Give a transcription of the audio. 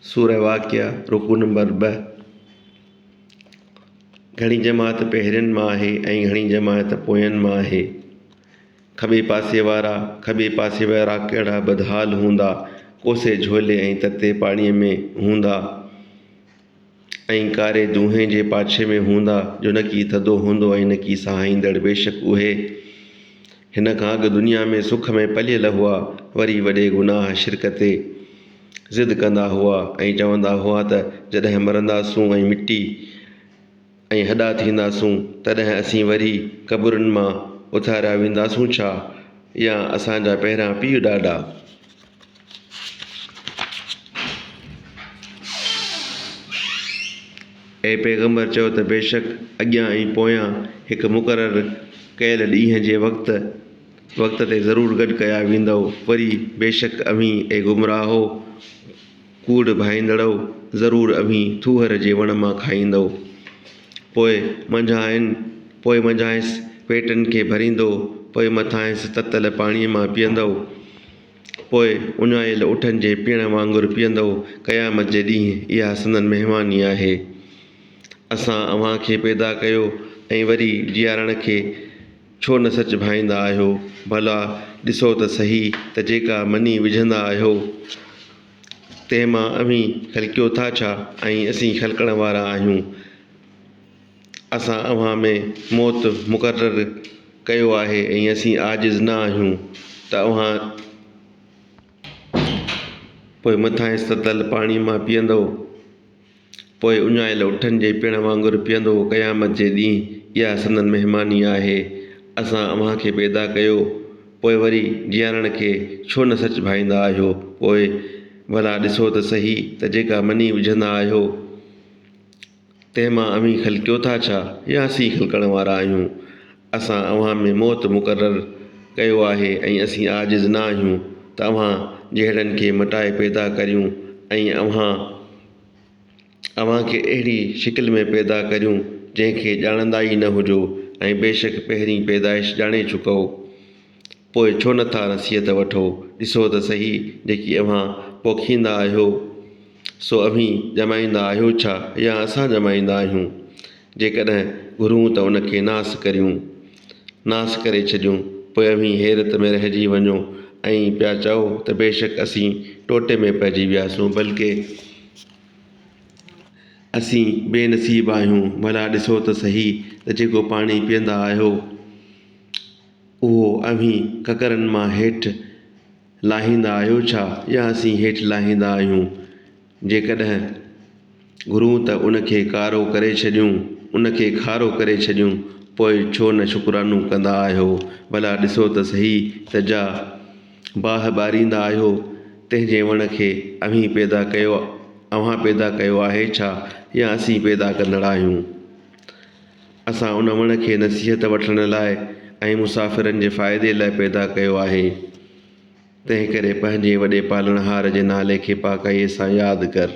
سورة واقعة، رڪوع نمبر ٻه، گهڻي جماعت پهرين مان آهي ۽ گهڻي جماعت پوين مان آهي. کٻي پاسي وارا، کٻي پاسي وارا ڪهڙا بدحال هوندا، ڪوسي جهولي ۽ تتي پاڻيء ۾ هوندا. ۽ ڪاري دونهين جي پاڇي ۾ هوندا، جو نه ڪي ٿڌو هوندو ۽ نه ڪي سهائيندڙ، بيشڪ اهي، هن کان اڳ، دنيا ۾ سک ۾ پليل هئا، وري وڏي گناهه، شرڪ، تي ضد ڪندا هئا ۽ چوندا هئا ته جڏهن مرنداسون ۽ مٽي، ۽ هڏا ٿينداسون، تڏهن اسين وري قبرن مان اٿاريا وينداسون ڇا؟ يا اسان جا پهريان پيء ڏاڏا. اي پيغمبر! چؤ ته بيشڪ اڳيان ۽ پويان هڪ مقرر ڪيل ڏينهن جي وقت، وقت، تي ضرور گڏ ڪيا ويندؤ، وري بيشڪ اوهين، اي گمراهو! ڪوڙ ڀائيندڙؤ! ضرور اوهين ٿوهر جي وڻ مان کائيندؤ، پوء منجهانئن، پوء منجهانئس پيٽن کي ڀريندؤ، پوء مٿانئس تتل پاڻيء مان پيئندؤ، پوء اڃايل اٺن جي پيڻ وانگر پيئندؤ، قيامت جي ڏينهن اها سندن مهماني آهي. اسان اوهان کي پيدا ڪيو ۽ وري جيارڻ کي ڇو نه سچ ڀائيندا آهيو؟ ڀلا ڏسو ته سهي ته جيڪا مني وجهندا آهيو، تنهن مان اوهين خلقيو ٿا ڇا؟ ۽ اسين خلقڻ وارا آهيون. اسان اوهان ۾ موت مقرر ڪيو آهي ۽ اسين عاجز نه آهيون ته اوهان پوء مٿانئس تتل پاڻي مان پيئندؤ. پوء اڃايل اٺن جي پيڻ وانگر پيئندو هو قيامت جي ڏينهن اها سندن مهماني آهي اسان اوهان کي پيدا ڪيو پوء وري جيارڻ کي ڇو نه سچ ڀائيندا آهيو پوء ڀلا ڏسو ته سهي ته جيڪا مني وجهندا آهيو تنهن مان اوهين خلقيو ٿا ڇا يا اسين ئي خلقڻ وارا آهيون اسان اوهان ۾ موت مقرر ڪيو آهي ۽ اسين عاجز نه آهيون ته اوهان جهڙن کي مٽائي پيدا ڪريون ۽ اوهان اوهان کي اهڙي شڪل ۾ پيدا ڪريون جنهن کي ڄاڻندا ئي نه هجو ۽ بيشڪ پهرين پيدائش ڄاڻي چڪؤ پوء ڇو نه ٿا نصيحت وٺو؟ ڏسو ته سهي جيڪي اوهان پوکيندا آهيو، سو اوهين ڄمائيندا آهيو ڇا يا اسان ڄمائيندا آهيون؟ جيڪڏهن گهرون ته ان کي ناس ڪريون، ناس ڪري ڇڏيون، پوء اوهين حيرت ۾ رهجي وڃو ۽ پيا چئو ته بيشڪ اسين ٽوٽي ۾ پئجي وياسون، بلڪ اسين بي نصيب آهيون، ڀلا ڏسو ته سهي ته جيڪو پاڻي پيئندا آهيو، اهو اوهين ڪڪرن مان هيٺ لاهيندا آهيو ڇا يا اسين هيٺ لاهيندا آهيون؟ جيڪڏهن گهرون ته ان کي ڪارو ڪري ڇڏيون، ان کي کارو ڪري ڇڏيون، پوء ڇو نه شڪرانو ڪندا آهيو؟ ڀلا ڏسو ته سهي ته جا باهه ٻاريندا آهيو، تنهن جي وڻ کي اوهين پيدا ڪيو، اوهان پيدا ڪيو آهي ڇا يا اسين پيدا ڪندڙ آهيون؟ اسان ان وڻ کي نصيحت وٺڻ لاء ۽ مسافرن جي فائدي لاء پيدا ڪيو آهي. تنهنڪري پنهنجي وڏي پالڻهار جي نالي کي پاڪائيء سان ياد ڪر.